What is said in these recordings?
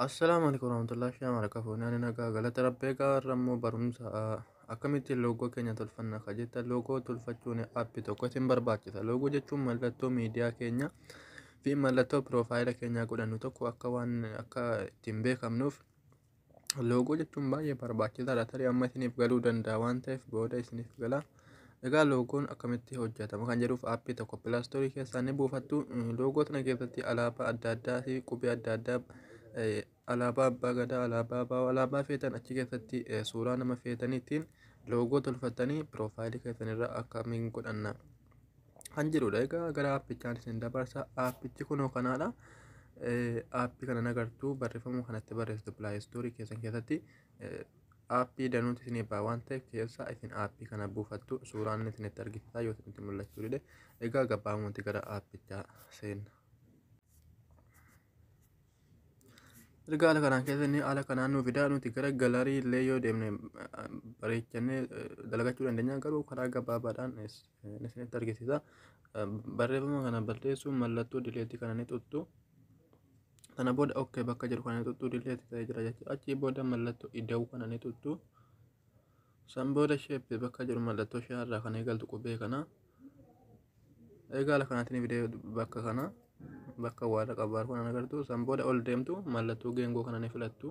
Assalaamu alaikum warahmatullahi shama baraka fuunee ani nagaa galata rabbee gaarra immoo barumsa akkamitti loogoo keenya tolfanna ka jetta loogoo tolfachuun appi tokko isin barbaachisa loogoo jechuun mallattoo miidiyaa keenya fi mallattoo piroofaayila keenyaa godhannu tokko akka waan akka ittiin beekamnuuf Loogoo jechuun baay'ee barbaachisaadha. Tarii amma isiniif galuu danda'a waan ta'eef booda isiniif gala. Egaa loogoon akkamitti hojjetama kan jedhuuf aappii tokko pilaastoorii keessaa ni buufattu. Loogoo sana keessatti alaabaa adda addaa fi qubee adda addaa alaabaa abbaa gadaa, alaabaa baawoo, alaabaa feetan achi keessatti suuraa nama feetaniitiin loogoo tolfattanii piroofaayilii keessanirra akka min godhanna. kan jirudha egaa gara aappichaan isin dabarsa aappichi kunoo kanaadha aappii kana nagartuu barreeffamuu kanatti barreessitu pilaayistoorii keessan keessatti aappii danuuti isin eebbaa waan ta'e keessaa isin aappii kana buufattu suuraan isinitti argisiisaa yoo isinitti mul'achuu dide egaa gabaabumatti gara aappichaa seenna. Erga haala kanaan keessa inni haala kanaan nu fidaa nuti gara galarii illee yoo deemne bareechannee dalagachuu dandeenya garuu karaa gabaabaadhaan isinitti argisiisa. Barreeffama kana balleessuun mallattoo dileetii kana ni tuttu. Kana booda ok bakka jedhu kana ni tuttu dileetii ta'ee jira jechuudha. Achii booda mallattoo ida'uu kana ni tuttu. San booda sheeppii bakka jiru mallattoo shaa irraa kan eegaltu qubee kana egaa ala kanaatiin fidee bakka kana bakka waara qabaar kun agartu san booda ol deemtu mallattoo geengoo kana ni filattu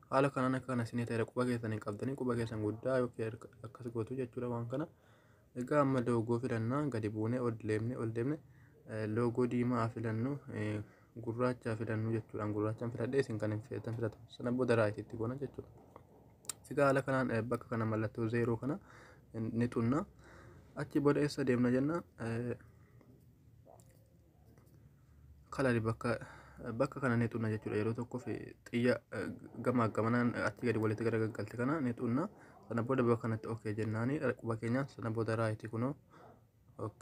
haala kanaan akka kana sinii ta'e quba keessan hin qabdanii quba keessan guddaa yookiin akkas gootu jechuudha waan kana Egaa amma loogoo filanna gadi buune ol deemne ol deemne loogoo diimaa filannu gurraacha filannu jechuudhaan gurraachaan filadhee isin kan hin feetan filatu sana booda raayit itti goona jechuudha. Egaa haala kanaan bakka kana mallattoo zeeroo kana ni tunna achi booda eessa deemna jenna kalali bakka bakka kana ni xunna jechuudha yeroo tokkoof xiyya gamaa gamanaan achi gadi walitti gara gaggalte kana ni xunna sana booda bakka kanatti ok jennaani quba keenyaan sana booda raayiti kunoo ok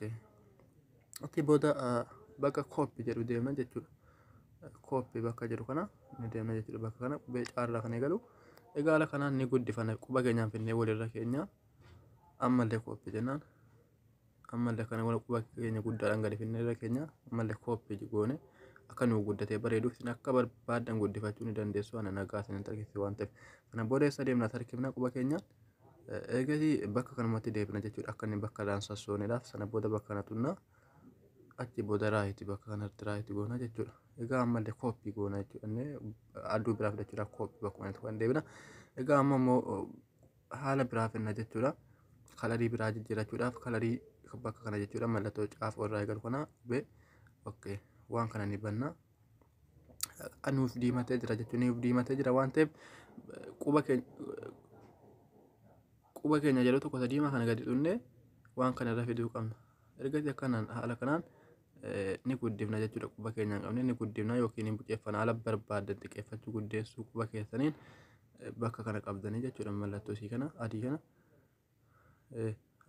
achi booda bakka kooppi jedhu deemna jechuudha kooppi bakka jedhu kana ni deemna jechuudha bakka kana qubee caarraa kan eegalu egaa haala kanaan ni guddifana quba keenyaan finnee walirra keenya ammallee kooppi jennaan ammallee kana wal quba keenya guddaadhaan gadi finnee irra keenya ammallee kooppeeji goone akka nuu guddatee bareeduuf isin akka barbaadan guddifachuu ni dandeessu ana nagaa isin tarkifte waan ta'eef kana booda eessa deemna tarkifna quba keenyaan eegasii bakka kanumatti deebina jechuudha akka inni bakka irraan sassooneedhaaf sana booda bakka kana tunnaa achi booda raayiti bakka kanatti raayiti goona jechuudha egaa ammallee kooppii goona jechuudha inni aduu biraa fudhachuudhaaf kooppii bakkuma inni tuqan deebina egaa amma immoo haala biraa finna jechuudha. Kalarii biraa jijjiirachuudhaaf kalarii bakka kana jechuudha mallattoo caafoo irraa eegalu kana qubee okay waan kana ni banna. Kan nuuf diimatee jira jechuun nuuf diimatee jira waan ta'eef quba keenya quba keenya yeroo tokko sadiima kana gadi dhunne waan kana irra fiduu qabna. Ergasii akkanaan haala kanaan ni guddifna jechuudha quba keenyaan qabne ni guddifna yookiin hin buqeeffana ala barbaaddan xiqqeeffachuu guddeessuu quba keessaniin bakka kana qabdanii jechuudha mallattoo isii kana adii kana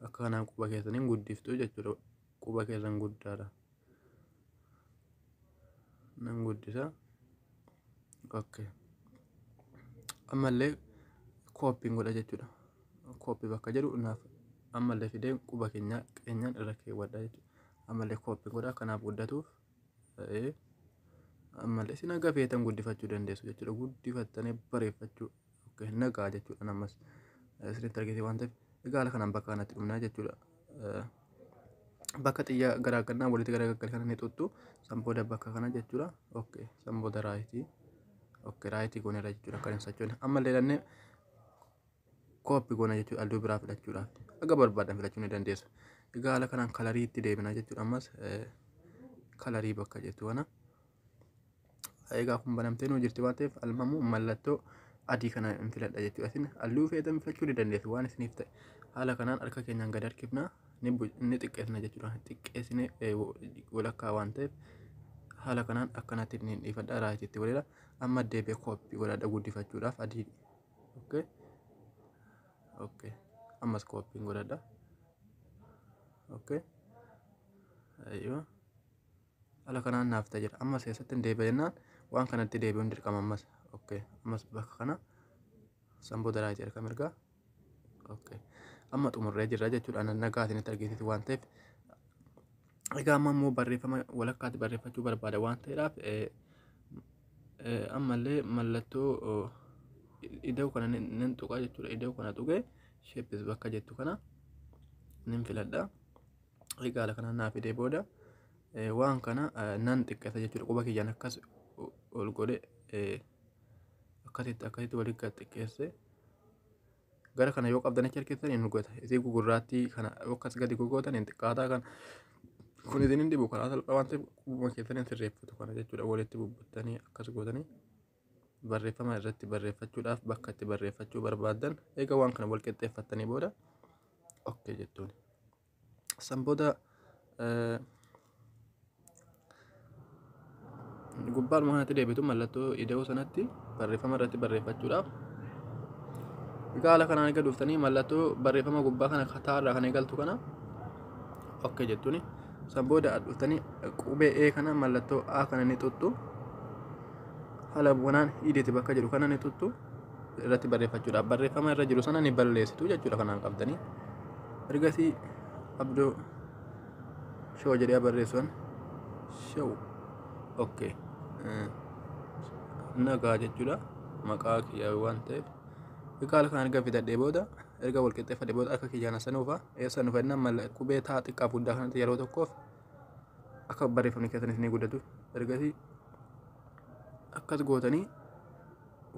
akka kanaan quba keessaniin guddiftu jechuudha quba keessan guddaadha nan guddisa okay ammallee kooppiin godha jechuudha kooppii bakka jedhu naaf ammallee fidee quba keenya keenyaan irra keewwadha jechuudha ammallee kooppi godha kanaaf guddatuuf ta'ee ammallee isin haga feetan guddifachuu dandeessu jechuudha guddifattanii bareeffachuu okay, nagaa jechuudha namas isinitti argite waan ta'eef egaa haala kanaan bakka kanatti dhumnaa jechuudha. Bakka xiyyaa garaagannaa walitti garaagaggal kana ni tuttu san booda bakka kana jechuudha okay, san booda raayitii okay, raayitii goonera jechuudha kan hin sochoone ammallee ilannee kooppi goona jechuudha halluu biraa filachuudhaaf akka barbaadan filachuu ni dandeessa. Egaa haala kanaan kalarii itti deebina jechuudha ammas kalarii bakka jettu kana. Egaa kun banamtee nuu jirti waan ta'eef almamu mallattoo adii kana hin filadha jechuudha. Isin halluu feetan filachuu ni dandeessu waan isiniif ta'e. Haala kanaan harka keenyaan gad harkifna ni xiqqeessina jechuudha. Xiqqeessine walakkaa waan ta'eef haala kanaan akkanatti ni dhiifadha raayitii itti godheera. Amma deebi'ee kooppi godhadha guddifachuudhaaf adii okay okay ammas kooppiin godhadha okay aywa ala kanaan naaf ta'a jira ammas keessatti hin deebi'a jennaan waan kanatti deebi'uun dirqama ammas okay ammas bakka kana san booda raayit erga mirgaa okay amma xumurree jirra jechuudha nagaatiin itti argisiisu waan ta'eef Egaa amma immoo barreeffama walakkaatti barreeffachuu barbaada waan ta'eedhaaf ammallee mallattoo iddoo kana nan tuqaa jechuudha. Iddoo kana tuqee sheeppis bakka jettu kana nan filadha. Egaa kana naa fidee booda waan kana nan xiqqeessa jechuudha. Quba kiyyaan akkas ol godhe akkasitti akkasitti walitti xiqqeessee. gara kana yoo qabdan achi harkiftan hin dhugata isii gugurraattii kana yoo akkas gadi gogootan hin xiqqaataa kana kun isin hin dhibu karaa salphaa waan ta'eef quba keessan hin sirreeffatu kana jechuudha walitti bubbuttanii akkas gootanii barreeffama irratti barreeffachuudhaaf bakka itti barreeffachuu barbaadan eega waan kana wal qixxeeffattanii booda ok jettuuni. San booda gubbaadhuma kanatti deebitu mallattoo ida'uu sanatti barreeffama irratti barreeffachuudhaaf gaala kanaan eega dhuftanii mallattoo barreeffama gubbaa kana kataarraa kan eegaltu kana ok jettuni san booda dhuftanii qubee ee kana mallattoo a kana ni tuttu haala wanaan hidhiti bakka jedhu kana ni tuttu irratti barreeffachuudhaaf barreeffama irra jiru sana ni balleessitu jechuudha kanaan qabdanii ergasii abdoo shoo jedhee barreessuun shoo okkee nagaa jechuudha maqaa kiyyaa waan ta'eef egaa halkan erga fidadhee booda erga wal qixxeeffadhee booda akka kiyyaan sanuufa eessa nu fedhina mala qubee taa xiqqaa guddaa kanatti yeroo tokkoof akka barreeffamni keessanis ni guddatu ergasii akkas gootanii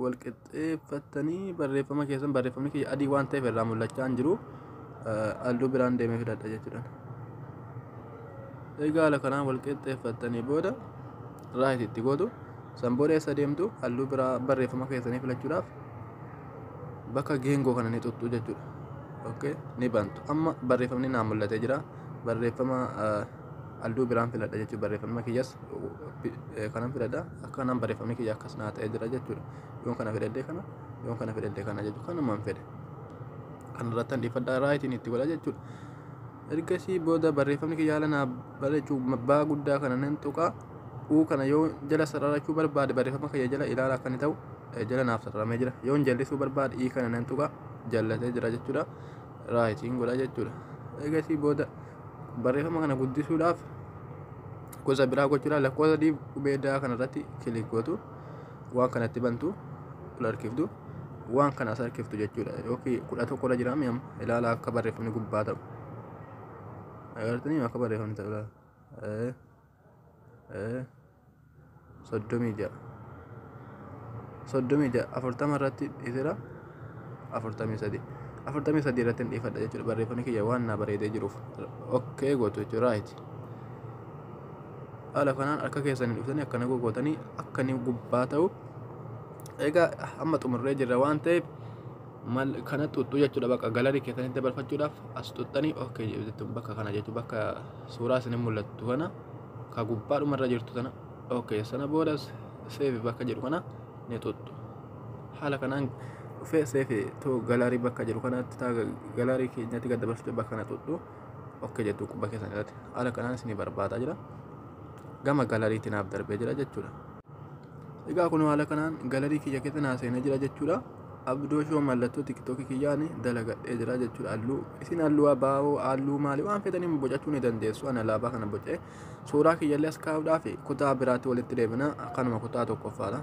wal qixxeeffattanii barreeffama keessan barreeffamni kiyya adii waan ta'eef irraa mul'achaa hin jiru halluu biraan deemee fidadha jechuudhaan. Egaa haala kanaan wal qixxeeffattanii booda raayit itti gootu san booda eessa deemtu halluu biraa barreeffama keessanii filachuudhaaf bakka geengoo kana ni tuttu jechuudha. Okay, ni bantu. Amma barreeffamni naa mul'atee jira. Barreeffama Alduu biraan filadha jechuun barreeffamni kiyyas kanan filadha akka nan barreeffamni kiyya akkas naa ta'ee jira jechuudha yoon kana fedhadhee kana yoon kana fedhadhee kana jechuudha kanumaan fedhe kan irratti handhiifadhaa raayitiin itti godha jechuudha ergasii booda barreeffamni kiyya haala naa bareechuu baa guddaa kana nan tuqaa uu kana yoo jala sararachuu barbaade barreeffama kiyya jala ilaala akka inni ta'u jala naaf sararamee jira yoon jallisuu barbaade ii kana nan tuqaa jallatee jira jechuudha raayitiin godha jechuudha. Eegasii booda barreeffama kana guddisuudhaaf gosa biraa gochuudhaan lakkoofsa diib qubee daa kanarratti kilik gootu waan kanatti bantu ol harkiftu waan kana as harkiftu jechuudha yookiin kudha tokko irra jiraame amma ilaala akka barreeffamni gubbaa ta'u. Agartanii akka barreeffamni ta'u ilaala. eh, soddomii ja'a soddomii ja'a afurtama irratti dhiisera afurtamii sadii afurtamii sadii irratti hin dhiifadha jechuudha barreeffamni kiyya waan naa bareedee jiruuf okkee gootu jechuudha raayiti haala kanaan harka keessanii dhuftanii akkana gogootanii akka inni gubbaa ta'u egaa amma xumurree jirra waan ta'eef mal kana xuxxuu jechuudha bakka galarii keessanitti dabarfachuudhaaf as xuxxanii okkee jettu bakka kana jechuudha bakka suuraa isin hin mul'attu kana ka gubbaa dhuma irra jirtu tana ok sana booda seefi bakka jedhu kana ni tuttu haala kanaan dhufee seefi too galaarii bakka jedhu kanatti taa galaarii keenyatti gad dabarsitee bakka kana tuttu ok jettu qubba keessan irratti haala kanaan isin barbaadaa jira gama galaariitti naaf darbee jira jechuudha. Egaa kun haala kanaan galarii kiyya keessa naa seenee jira jechuudha. Abdoo shoo mallattoo tiktookii kiyyaan dalagadhee jira jechuudha. Halluu isin halluu abaaboo halluu maalii waan fedhaniin bocachuu ni dandeessu. Ani alaabaa kana bocee suuraa kiyyallee as kaa'uudhaa fi kutaa biraatti walitti deebina kanuma kutaa tokkoffaadha.